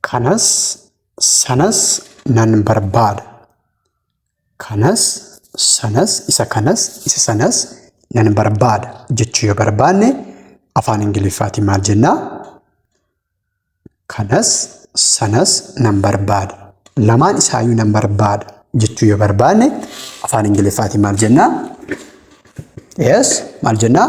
Kanas sanas nan barbaada. Kanas sanas isa kanas isa sanas nan barbaada jechuu yoo barbaanne afaan Ingiliffaatiin maal jennaa? Kanas sanas nan barbaada. Lamaan isaayyuu nan barbaada jechuu yoo barbaanne afaan Ingiliffaatiin maal jennaa? Yes maal jennaa?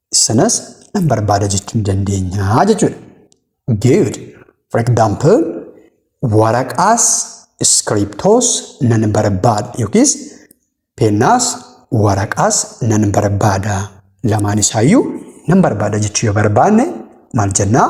Sanas nan barbaada jechuu ni dandeenya jechuudha. Good. For example, waraqaas iskiriptoos nan barbaada yookiis pennaas waraqaas nan barbaada. Lamaan isaayyuu nan barbaada jechuu yoo barbaanne maal jennaa?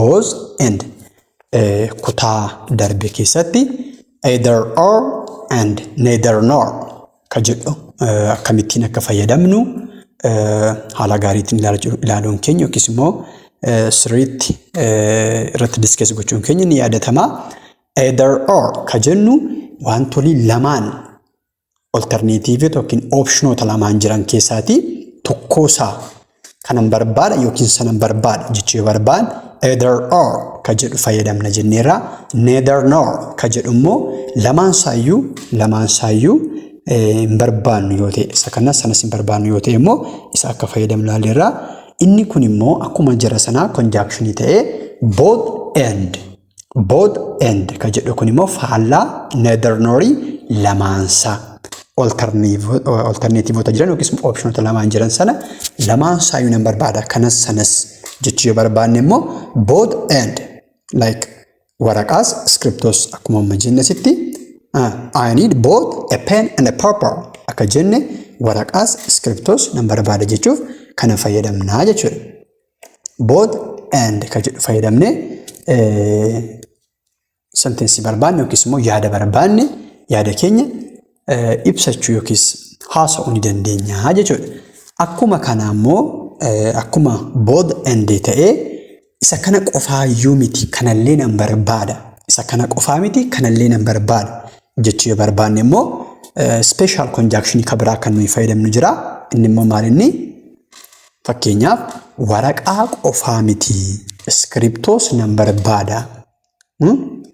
both and eh, kutaa darbe keessatti either or and neither nor ka jedhu eh, akkamittiin akka fayyadamnu eh, haala gaariitiin ilaalchu- ilaaluun keenya yookiis immoo eh, sirriitti eh, irratti diskees gochuun keenya ni yaadatama. Either or ka jennu wantolii lamaan Oltarneetiivota yookiin oopshinoota lamaan jiran keessaatii tokkoo isaa kanan barbaada yookiin sanan barbaada jechuu yoo barbaan either or ka jedhu fayyadamna jenneerra. Neither nor ka jedhu immoo lamaan isaayyuu lamaan isaayyuu hin barbaannu yoo ta'e isa kanas sanas hin barbaannu yoo ta'e immoo isa akka fayyadamnu ilaalleerra. Inni kun immoo akkuma jara sanaa konjaakshinii ta'ee both and Both and ka jedhu kun immoo faallaa neither nor lamaansaa oltarneetivoota jiran yookiis opshinoota lamaan jiran sana lamaan saayuu nan barbaada kanas sanas jechuu yoo barbaanne immoo both and like waraqaas iskiriptoos akkuma amma jenne sitti I need both a pen and a paper akka jenne waraqaas iskiriptoos nan barbaada jechuuf kana fayyadamnaa jechuudha. both and ka jedhu fayyadamne sentensi barbaanne yookiis immoo yaada barbaanne yaada keenya ibsachuu yookiis haasa'uu ni dandeenya jechuudha. Akkuma kana immoo akkuma both and ta'ee isa kana qofaayyuu miti kanallee nan barbaada. Isa kana qofaa miti kanallee nan barbaada jechuu yoo barbaanne immoo special conjunction ka biraa kan nuyi fayyadamnu jira. Inni immoo maal inni? Fakkeenyaaf waraqaa qofaa miti. Iskiriptoos nan barbaada.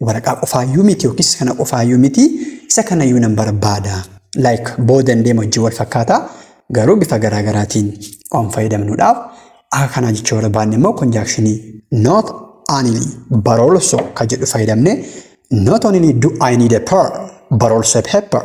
Waraqaa qofaayyuu miti yookiis kana qofaayyuu miti isa kanayyuu nan barbaada. Like booda hin deemu hojii wal fakkaata garuu bifa garaa garaatiin waan fayyadamnuudhaaf akka kanaa jechuu barbaanne immoo konjaakshinii not only but also kan jedhu fayyadamne not only do I need a per but also a paper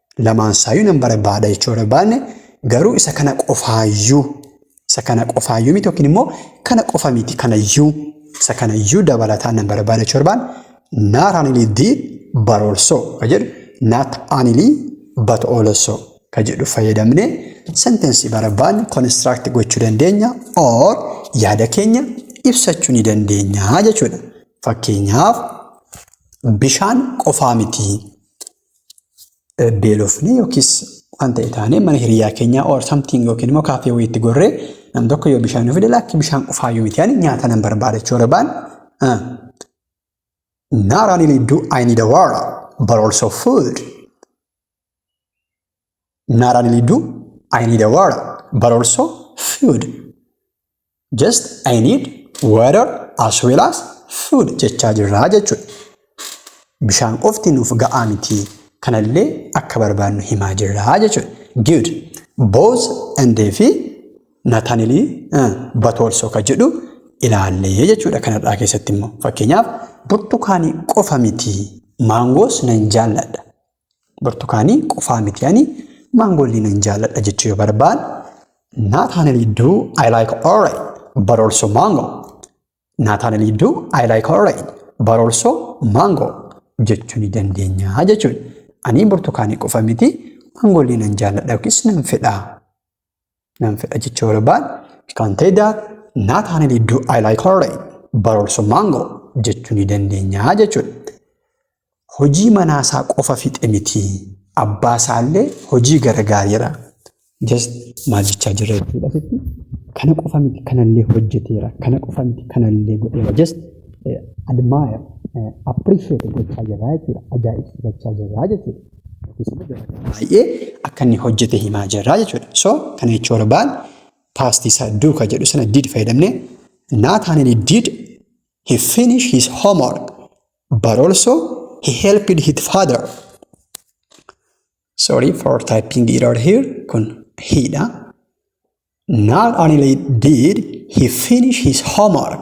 Lamaan isaayyuu nan barbaada jechuu barbaanne garuu isa kana qofaayyuu isa kana qofaayyuu miti yookiin immoo kana qofa miti kanayyuu isa kanayyuu dabalataan nan barbaada jechuu barbaanne not only the but also ka jedhu not only but also ka jedhu fayyadamne sentensii barbaanne construct gochuu dandeenya or yaada keenya ibsachuu ni dandeenya jechuudha. Fakkeenyaaf bishaan qofaa miti. beelofnee yookiis waan ta'e taanee mana hiriyaa keenyaa or something yookiin immoo kaafee wayiitti gorree nam tokko yoo bishaan fide lakki bishaan qufaayyuu miti ani nyaata nan barbaada jechuu barbaan not only do I need a water but also food not only do I need a water but also food just I need water as well as food jechaa jirraa jechuudha. Bishaan qofti nuuf ga'aa miti kanallee akka barbaannu himaa jirraa jechuudha. Good. Both and fi not only uh, but also ka jedhu ilaallee jechuudha kanarraa keessatti immoo fakkeenyaaf burtukaanii qofa miti maangoos nan jaalladha Burtukaanii qofaa miti ani maangoollee nan jaalladha jechuu yoo barbaan Naataanelii duu I like orange but also mango. Naataanelii duu I like orange but also mango jechuu ni dandeenya jechuudha. Ani burtukaanii qofa miti maangoollee nan jaalladha yookiis nan fedha Nan fedha jecha barbaad kan ta'e daa naa taane didduu I like orange barorso mango jechuu ni dandeenya jechuudha. Hojii manaa isaa qofa fixe miti abbaa isaallee hojii gargaareera. Just maal jechaa jirra jechuudha asitti. Kana qofa miti kanallee hojjeteera kana qofa miti kanallee godheera just admire appreciate gochaa jirra jechuudha ajaa'ibsiifachaa jirra jechuudha. baay'ee akka inni hojjete himaa jirra jechuudha. So kana jechuu barbaan past isa do ka jedhu sana did fayyadamne Nathaniel did he finish his homework but also he helped his father. Sorry for typing error here kun he dha. Nathaniel did he finish his homework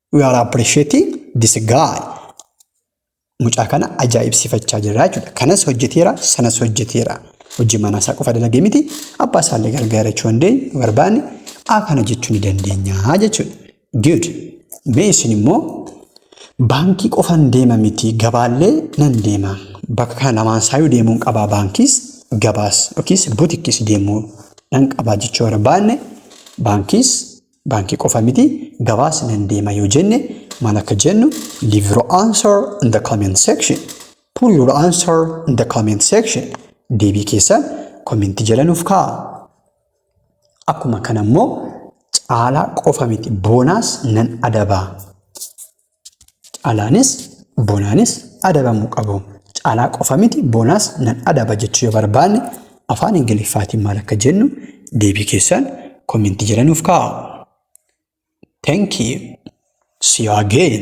We are appreciating this guy. Mucaa kana ajaa'ibsiifachaa jirra jechuudha. Kanas hojjeteera, sanas hojjeteera. Hojii manaa isaa qofa dalagee miti, abbaa isaa illee gargaara jechuu dandeenyu yoo barbaanne A kana jechuu ni dandeenya jechuudha. Good. Mee isin immoo baankii qofan deema miti gabaallee nan deema. Bakka kana lamaan isaayyuu deemuun qabaa baankiis gabaas yookiis butikis deemuu nan qabaa jechuu barbaanne baankiis baankii qofa miti gabaas nan deema yoo jenne maal akka jennu leave your answer in the comment section put your answer in the comment section deebii keessan kominti jala nuuf kaa'a akkuma kana immoo caalaa qofa miti boonaas nan adabaa Calaanis bonaanis adabamuu qabu. Calaa qofa miti bonaas nan adaba jechuu yoo barbaanne afaan Ingiliffaatiin maal akka jennu deebii keessan komentii jala nuuf kaa'a. Thank you. See you again.